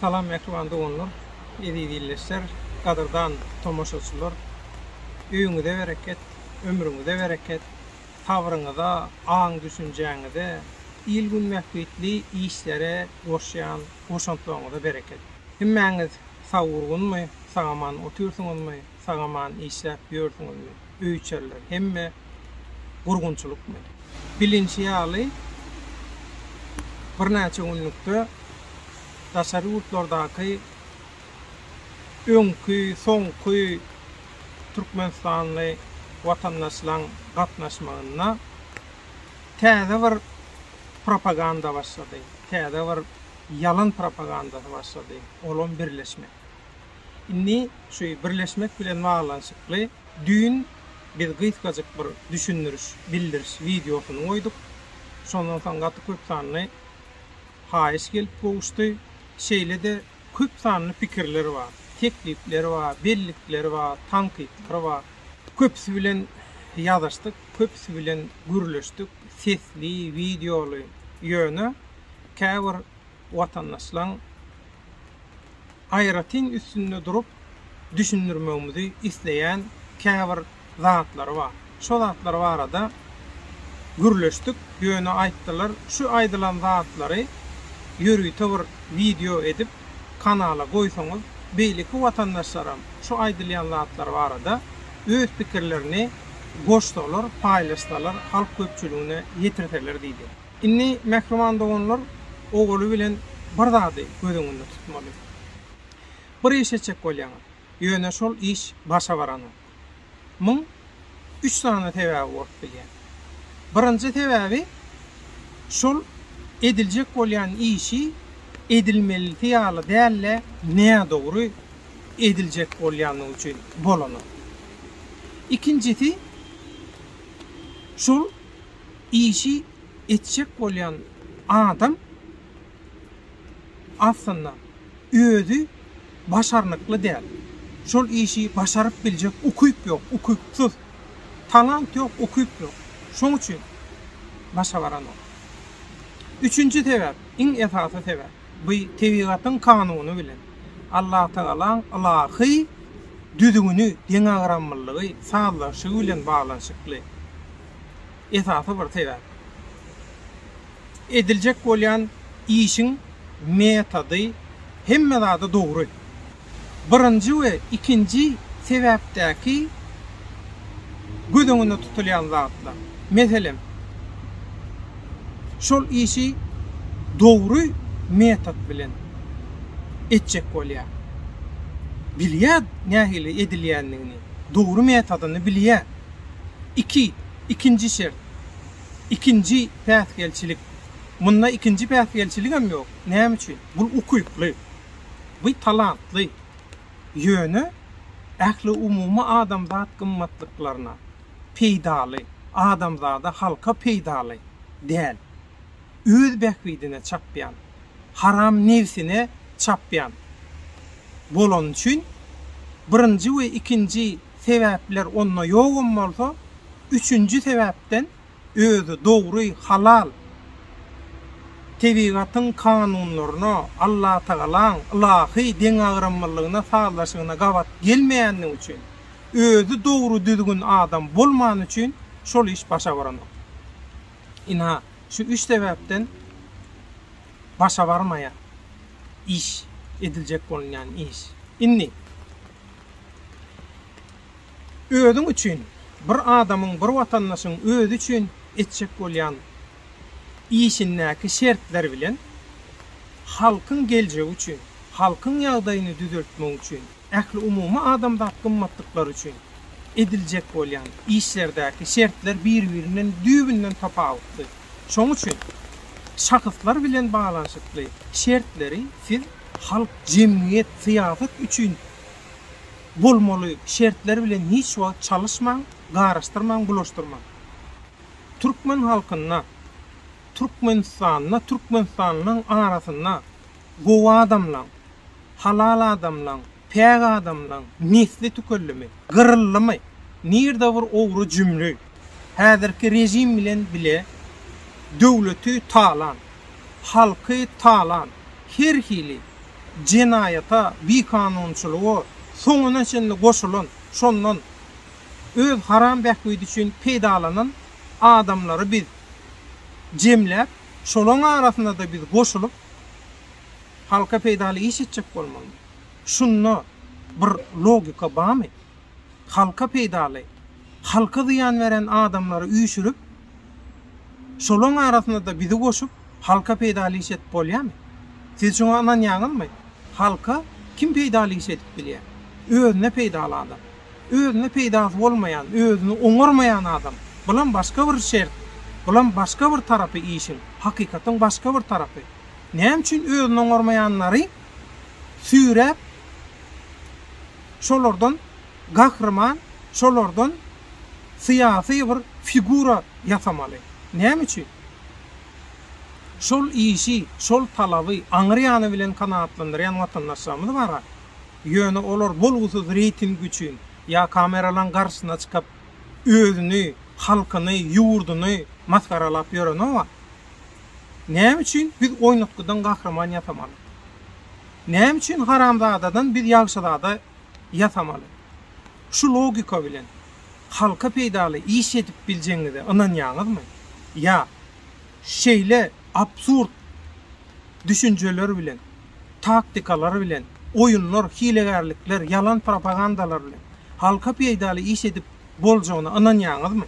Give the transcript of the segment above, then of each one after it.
Salam mähriban doganlar, eziz ildeşler, gadyrdan tomaşaçylar! Öýüňize bereket, ömrüňize bereket, sabryňyza, aň-düşünjäňize, il-gün bähbitli işlere goşýan goşantlaryňyza bereket! Hemmäňiz sag-urgunmy, sag-aman otyrsyňyzmy? sagaman işläp ýörsüňizmi, öýçerler hemme gurgunçylykmy? Bilinşi ýaly, birnäçe günlükde daşary ýurtlardaky öňki, soňky türkmenistanly watandaşlaň gatnaşmagynda täze bir propaganda başlady, täze bir ýalan propagandasy başlady, olam birleşmek. Indi şu birleşmek bilen baglanyşykly düýn biz gysgajyk bir düşündiriş, bildiriş wideosyny goýduk. Şondan soň gaty köp sanly haýyş gelip gowuşdy. Şeýle-de köp sanly pikirler bar, teklipler bar, bellikler bar, tankytlar bar. Köpüsi bilen ýazyşdyk, köpüsi bilen gürleşdik, sesli, wideoly, ýöne käbir watandaşlaň aýratyn üstünde durup düşündirmegimizi isleýän käbir zatlary bar. Şo zatlar barada gürleşdik, ýöne aýtdylar, şu aýdylan zatlary ýörite bir wideo edip kanala goýsaňyz, beýleki watandaşlaram şu aýdylýan zatlar barada öz pikirlerini goşsalar, paýlaşsalar, halk köpçüligine ýetirseler diýdi. Indi mähriban doganlar owaly bilen bir zady göz öňünde tutmaly. Bir iş etjek bolýaňyz, ýöne şol iş başa baranok. Muň üç sany sebäbi bolup bilýär. Birinji sebäbi şol ediljek bolýan işi edilmelisi ýaly däl-de nädogry ediljek bolýandygy üçin bolanok. Ikinjisi şol işi etjek bolýan adam aslynda özi başarnykly däl, şol işi başaryp biljek ukyp ýok, ukypsyz. Talant ýok, ukyp ýok. Şoň üçin başa baranok. Üçünji sebäp, iň esasy sebäp, bu tebigatyň kanuny bilen, Allatagalaň ylahy düzgüni, deňagramlylygy, sazlaşygy bilen baglanyşykly. esasy bir sebäp. Ediljek bolýan işiň metody hemme zada dogry. Birinji we ikinji sebäpdäki göz öňünde tutulýan zatlar. Meselem, şol işi dogry metod bilen etjek bolýar. Bilýär nähili edilýändigini, dogry metodyny bilýär. Iki, ikinji şert. Ikinji päsgelçilik. Munda ikinji päsgelçiligem ýok. Näme üçin? Bul ukykly. Bu talantly. Ýöne ähliumumy adamzat gymmatlyklaryna peýdaly, adamzada, halka peýdaly däl. öz bähbidine çapýan, haram nebsine çapýan bolany üçin, birinji we ikinji sebäpler onda ýogam bolsa, üçünji sebäpden özi dogry, halal, tebigatyň kanunlaryna, Allatagalaň ylahy deňagramlylygyna, sazlaşygyna gabat gelmeýänligi üçin, özi dogry-düzgün adam bolmany üçin şol iş başa baranok. Ina, şu üç sebäpden başa barmaýar iş, ediljek bolunýan iş. Indi, özüň üçin, bir adamyň, bir watandaşyň özi üçin etjek bolýan işindäki şertler bilen halkyň geljegi üçin, halkyň ýagdaýyny düzeltmek üçin, Ähliumumy adamzat gymmatlyklary üçin ediljek bolýan işlerdäki şertler bir-birinden düýbünden tapawutly. Şonuň üçin şahyslar bilen baglanyşykly şertleri siz halk, jemgyýet, syýasat üçin bolmaly şertler bilen hiç wagt çalyşmaň, garyşdyrmaň, bulaşdyrmaň. Türkmen halkynda, Türkmenistanda, türkmenistanlylaryň arasynda Gowy adamlaň, halal adamlaň, päk adamlaň nesli tükellimi, gyryldymy? Nirde bir ogry jümli? Häzirki režim bilen bile döwleti talan, halky talan, her hili jenaýata, bikanunçylyga soňuna çenli goşulan, şondan öz haram bähbidi üçin peýdalanan adamlary biz jemläp, şolaň arasyna-da biz goşulyp, Halka peýdaly iş etjek bolmaly. Şunda bir logika barmy? Halka peýdaly, halka zyýan beren adamlary üýşürip, şolaň arasynda-da bizi goşup, halka peýdaly iş edip bolýamy? Siz şuňa ynanýaňyzmy? Halka kim peýdaly iş edip bilýär? Özüne peýdaly adam. Özüne peýdasy bolmaýan, özüni oňarmaýan adam. Bulam başga bir şert. Bulam başga bir tarapy işiň, hakykatyň başga bir tarapy. Näme üçin özüni oňarmaýanlary süýräp, şolardan gahryman, şolardan syýasy bir figura ýasamaly? Näme üçin? Şol işi, şol talaby aňryýany bilen kanagatlandyrýan watandaşlarymyz bar-a. ýöne olar bolgusyz reýting üçin ýa kameralaň garşysyna çykyp özüni, halkyny, ýurduny masgaralap ýörenoga, näme üçin biz oýnatgydan gahryman ýasamaly? Näme üçin haramzadadan biz ýagşyzada ýasamaly? Şu logika bilen halka peýdaly iş edip biljegiňize ynanýaňyzmy? Ýa şeýle absurd düşünjeler bilen taktikalar bilen, oýunlar, hilegärlikler, ýalan propagandalar bilen halka peýdaly iş edip boljagyna ynanýaňyzmy?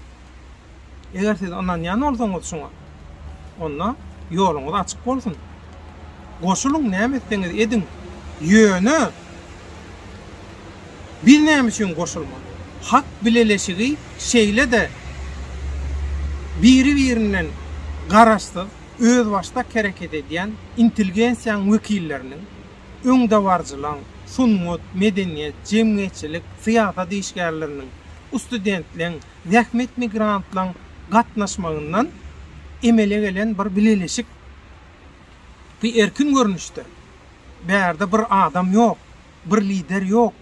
Eger siz ynanýan bolsaňyz şuňa, onda ýoluňyz açyk bolsun. Goşulyň, näme etseňiz ediň, ýöne biz näme üçin goşulmaly? Hak bileleşigi şeýle-de biri-birinden garaşsyz, özbaşdak hereket edýän intelgensiýaň wekilleriniň, öňdebaryjylaň, sungat, medeniýet, jemgyýetçilik, syýasat işgärleriniň, ustudentleň, zähmet migrantlaň gatnaşmagyndan emele gelen bir bileleşik. Bu erkin görnüşdir. Bärde bir adam ýok, bir lider ýok.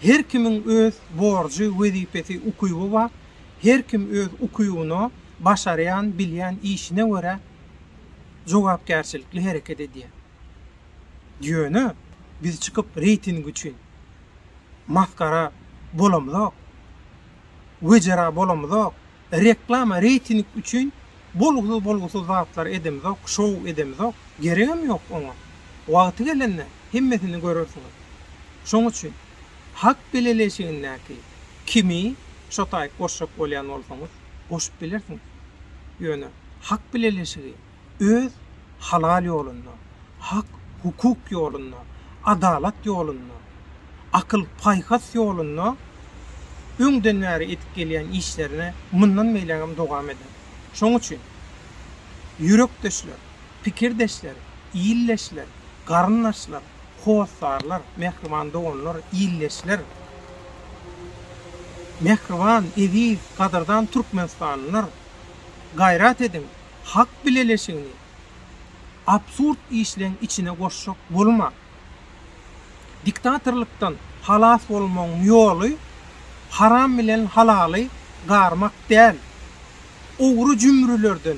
Her kimiň öz borjy, wezipesi, ukyby bar. Her kim öz ukybyna, başarýan, bilýän işine görä jogapkärçilikli hereket edýär. Ýöne biz çykyp reýting üçin masgara bolamyzok, wejera bolamyzok. Reklama reýting üçin bolgusyz bolgusyz zatlar edemzok şow edemzok geregem ýok oňa wagty gelende hemmesini görersiňiz şoň üçin hak bileleşigindäki kimi şotaýyk goşjak bolýan bolsaňyz goşup bilersiňiz ýöne hak bileleşigi öz halal ýolunda, hak, hukuk ýolunda, adalat ýolunda, akyl, paýhas ýolunda öňden bäri edip gelýän işlerini mundan beýlägem dowam eder. Şoň üçin, ýürekdeşler, pikirdeşler, ildeşler, garyndaşlar, hossarlar, mähriban doganlar, ildeşler, mähriban, eziz, gadyrdan türkmenistanlylar, gaýrat ediň! Halk bileleşigini absurd işleň içine goşjak bolma. Diktatorlykdan halas bolmagyň ýoly haram bilen halaly garmak däl. Ogry jümrülerden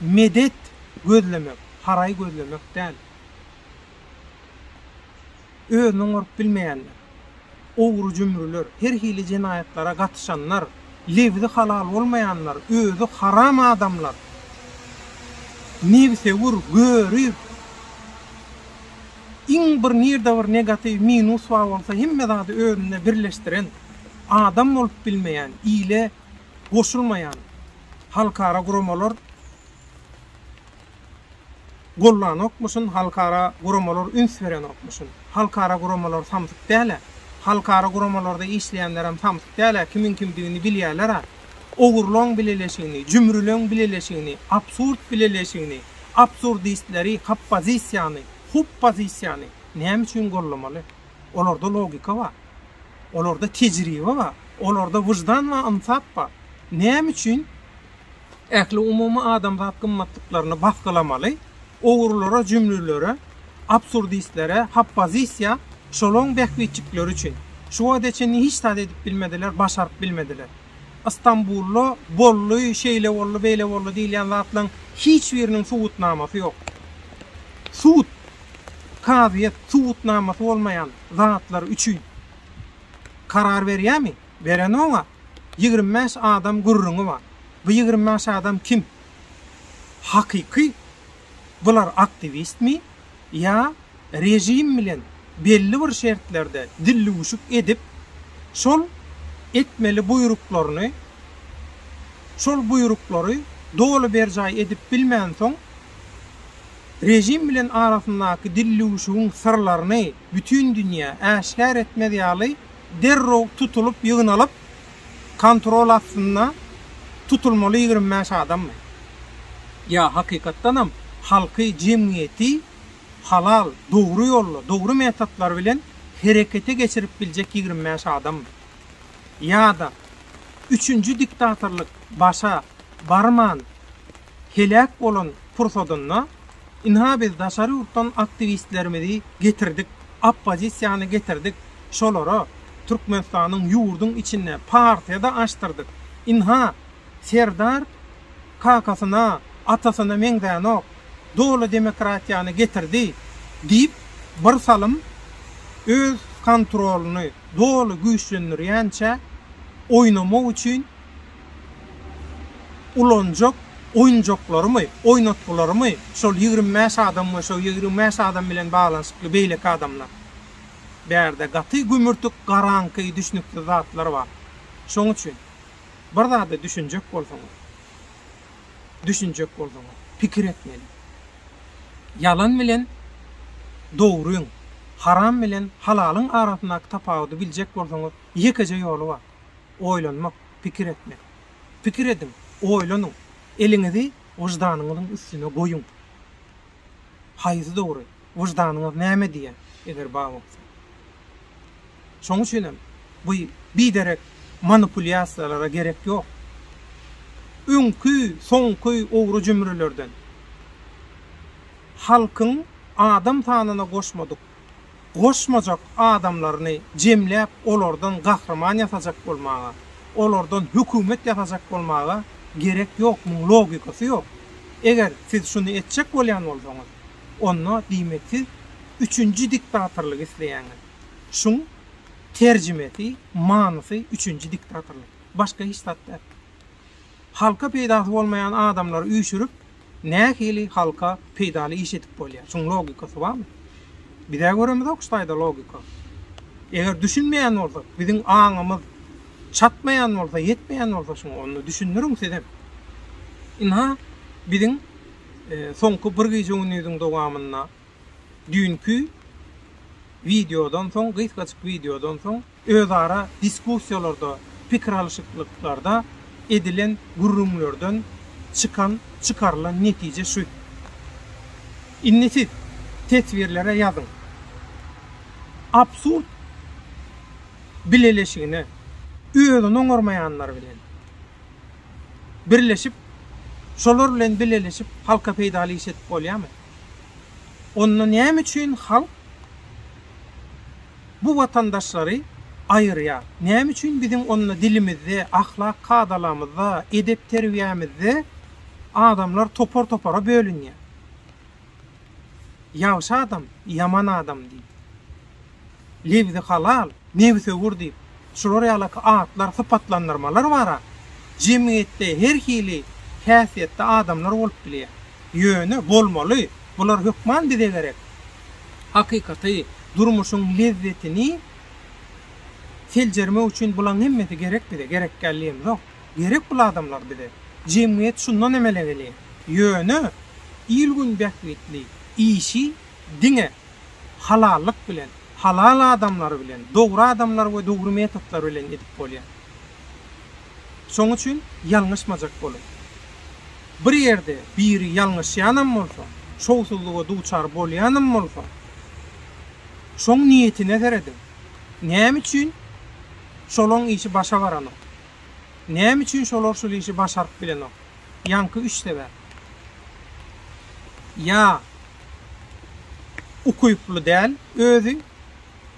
medet gözlemek, haraý gözlemek däl. Özüni oňaryp bilmeýänler, ogry-jümrüler, her hili jenaýatlara gatyşanlar, lebzi halal bolmaýanlar, özi haram adamlar, nebsewür, görüp, iň bir nirde bir negatiw, minus bar bolsa, hemme zady özünde birleşdiren, adam bolup bilmeýän, ile goşulmaýan halkara guramalar gollanokmyşyn, halkara guramalar üns berenokmyşyn. Halkara guramalar samsyk däl-ä. Halkara guramalarda işleýänlerem samsyk däl-ä, kimiň kimdigini bilýärler-ä. Ogurlaň bileleşigini, jümrüleň bileleşigini, absurd bileleşigini, absurdistleri, hoppozisiýany, huppozisiýany näme üçin gollamaly? Olarda logika bar. Olarda tejribe bar. Olarda wyždan we ynsap bar. Näme üçin ähliumumy adamzat gymmatlyklaryny basgylamaly, ogrulara, jümlülere, absurdistlere, hoppozisiýa şolaň bähbitjikleri üçin, şu wagta çenli hiç zat edip bilmediler, başaryp bilmediler. Stambulda boldy, şeýle boldy, beýle boldy diýilýän zatlaryň hiç biriniň subutnamasy ýok. Sud, kazyýet subutnamasy bolmaýan zatlar üçin karar berýärmi? Beren oňa, Ýigrimi bäş adam gürrüňi bar. Bu ýigrimi bäş adam kim? Hakyky bular aktiwistmi ýa režim bilen belli bir şertlerde dillüwşük edip, şol etmeli buýruklaryny, şol buýruklary doly berjaý edip bilmänsoň, režim bilen arasyndaky dillüwşügiň syrlaryny bütin dünýä äşgär etmez ýaly derrew tutulyp ýygnalyp kontrol astynda tutulmaly ýigrimi bäş adammy? Ýa hakykatdanam halky jemgyýeti halal dogry ýolda dogry metodlar bilen herekete geçirip biljek ýigrimi bäş adammy? Ýada üçünji diktatorlyk başa barman heläk bolan pursadynda Ynha biz daşary ýurtdan aktiwistlerimizi getirdik, oppozisiýany getirdik, şolara Türkmenistanyň ýurduň içinde partiýa-da açdyrdyk. Ynha Serdar kakasyna, atasyna meňzänok, doly demokratiýany getirdi diýip bir salym öz kontrolyny doly güýçlendirýänçä oýnamak üçin, Ulanjak oýunjaklarymy, oýnatgylarymy şol ýigrimi bäş adam we şo ýigrimi bäş adam bilen baglanyşykly beýleki adamlar. Bärde gaty gümürtik, garaňky, düşnüksiz zatlar bar. Şoň üçin, bir zada düşünjek bolsaňyz, düşünjek bolsaňyz, pikir etmeli. Ýalan bilen dogryň, haram bilen halalyň arasyndaky tapawudy biljek bolsaňyz, ýekeje ýoly bar. oýlanmak, pikir etmek. Pikir ediň, oýlanyň, eliňizi wyždanyňyzyň üstüne goýuň. Haýsy dogry? Wyždanyňyz näme diýer, eger bar bolsa? Şonuň üçin hem bu biderek manipulýasiýalara gerek ýok. Öňki, soňky owry-jümrülerden halkyň adam sanyna goşmadyk goşmajak adamlaryny jemläp olardan gahryman ýasajak bolmaga, olardan hökümet ýasajak bolmaga gerek ýok, muň logikasy ýok. Eger siz şuny etjek bolýan bolsaňyz, onda diýmek siz üçünji diktatorlygy isleýäňiz. Şuň terjimesi, manysy üçünji diktatorlyk. Başga hiç zat däl. Halka peýdasy bolmaýan adamlary üýşürip, Nähili halka peýdaly iş edip bolýar? Şuň logikasy barmy? Biz-ä göremizok şu taýda logika. Eger düşünmeýän bolsak, biziň aňymyz çatmaýan bolsa, ýetmeýän bolsa şuňa, onda düşündiriň sizem. Ynha, biziň soňky bir gije-gündiziň dowamynda düýnki wideodan soň, gysgajyk wideodan soň özara diskussiýalarda, pikir alyşyklyklarda edilen gürrüňlerden çykan, çykarylan netije şu. Indi siz teswirlere ýazyň. Absurd bileleşigine özüni oňarmaýanlar bilen birleşip, şolar bilen bileleşip halka peýdaly iş edip bolýamy? Onda näme üçin halk. bu watandaşlary aýyrýar. Näme üçin biziň onda dilimizde, ahlak kadalamyzda, edep-terbiýämizde adamlar topar-topara bölünýär? Ýagşy adam, ýaman adam diýip, lebzi halal, nebsewür diýip, şular ýalaky atlar, sypatlandyrmalar bar-a. Jemgyýetde her hili häsiýetde adamlar bolup bilýär. Ýöne bolmaly, bular hökman bize gerek. Hakykaty, durmuşyň lezzetini seljermek üçin bulaň hemmesi gerek bize, gerekgäl diýemzok. Gerek bul adamlar bize. Jemgyýet şundan emele gelýä. Ýöne, il-gün bähbitli işi diňe halallyk bilen, halal adamlar bilen, dogry adamlar we dogry metodlar bilen edip bolýar. Şoň üçin ýalňyşmajak boluň. Bir ýerde biri ýalňyşýanam bolsa, şowsuzlyga duçar bolýanam bolsa, şoň niýetine serediň. Näme üçin şolaň işi başa baranok? Näme üçin şolar şul işi başaryp bilenok? Ýaňky üç sebäp. Ýa ukyply däl özi,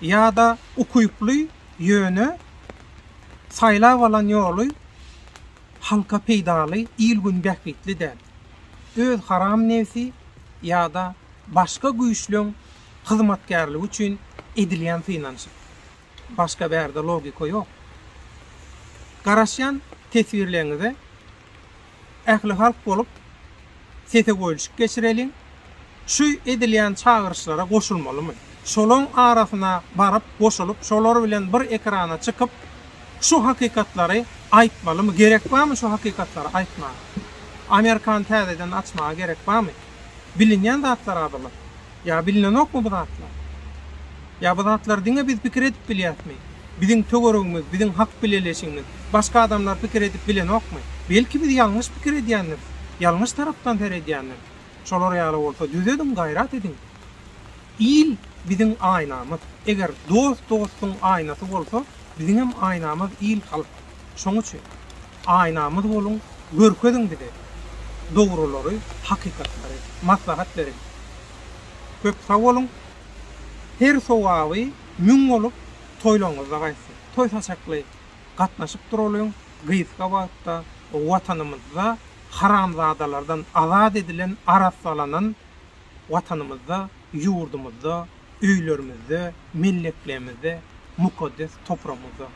ýa-da ukyply, ýöne Saýlap alan ýoly halka peýdaly, il-gün bähbitli däl. Öz haram nebsi ýa-da başga güýçleň hyzmatkärligi üçin edilýän synanyşyk. Başga bärde logika ýok. Garaşýan teswirleňize. ählihalk bolup, sese goýulşyk geçireliň. Şu edilýän çagyryşlara goşulmalymy? Şolaň arasyna baryp, goşulyp, şolar bilen bir ekrana çykyp, şu hakykatlary aýtmalymy? Gerek barmy şu hakykatlary aýtmaga? Amerikany täzeden açmaga gerek barmy? Bilinýän zatlar-a bular. Ýa bilnenokmy bu zatlar? Ýa bu zatlary diňe biz pikir edip bilýäsmi? Biziň töweregimiz, biziň hak bileleşigimiz, başga adamlar pikir edip bilenokmy? Belki biz ýalňyş pikir edýändiris, ýalňyş tarapdan seredýändiris. Şolar ýaly bolsa düzediň, gaýrat ediň. Il biziň aýnamyz. Eger dost dostuň aýnasy bolsa, biziňem aýnamyz il-halk. Şoň üçin. Aýnamyz boluň, görkeziň bize dogrulary, hakykatlary, maslahat beriň. Köp sag boluň. Her sowaby müň bolup, toýlaryňyzda gaýtsyn. Toý saçakly gatnaşyp duralyň, gysga wagtda Watanymyzda haramzadalardan azat edilen, arassalanan, Watanymyzda, ýurdumyzda, öýlerimizde, melleklemizde, mukaddes topragymyzda.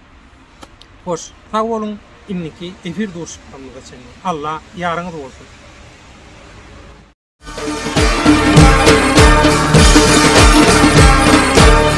Hoş, sag boluň, indiki efir duşuşyklarymyza çenli Alla ýaryňyz bolsun!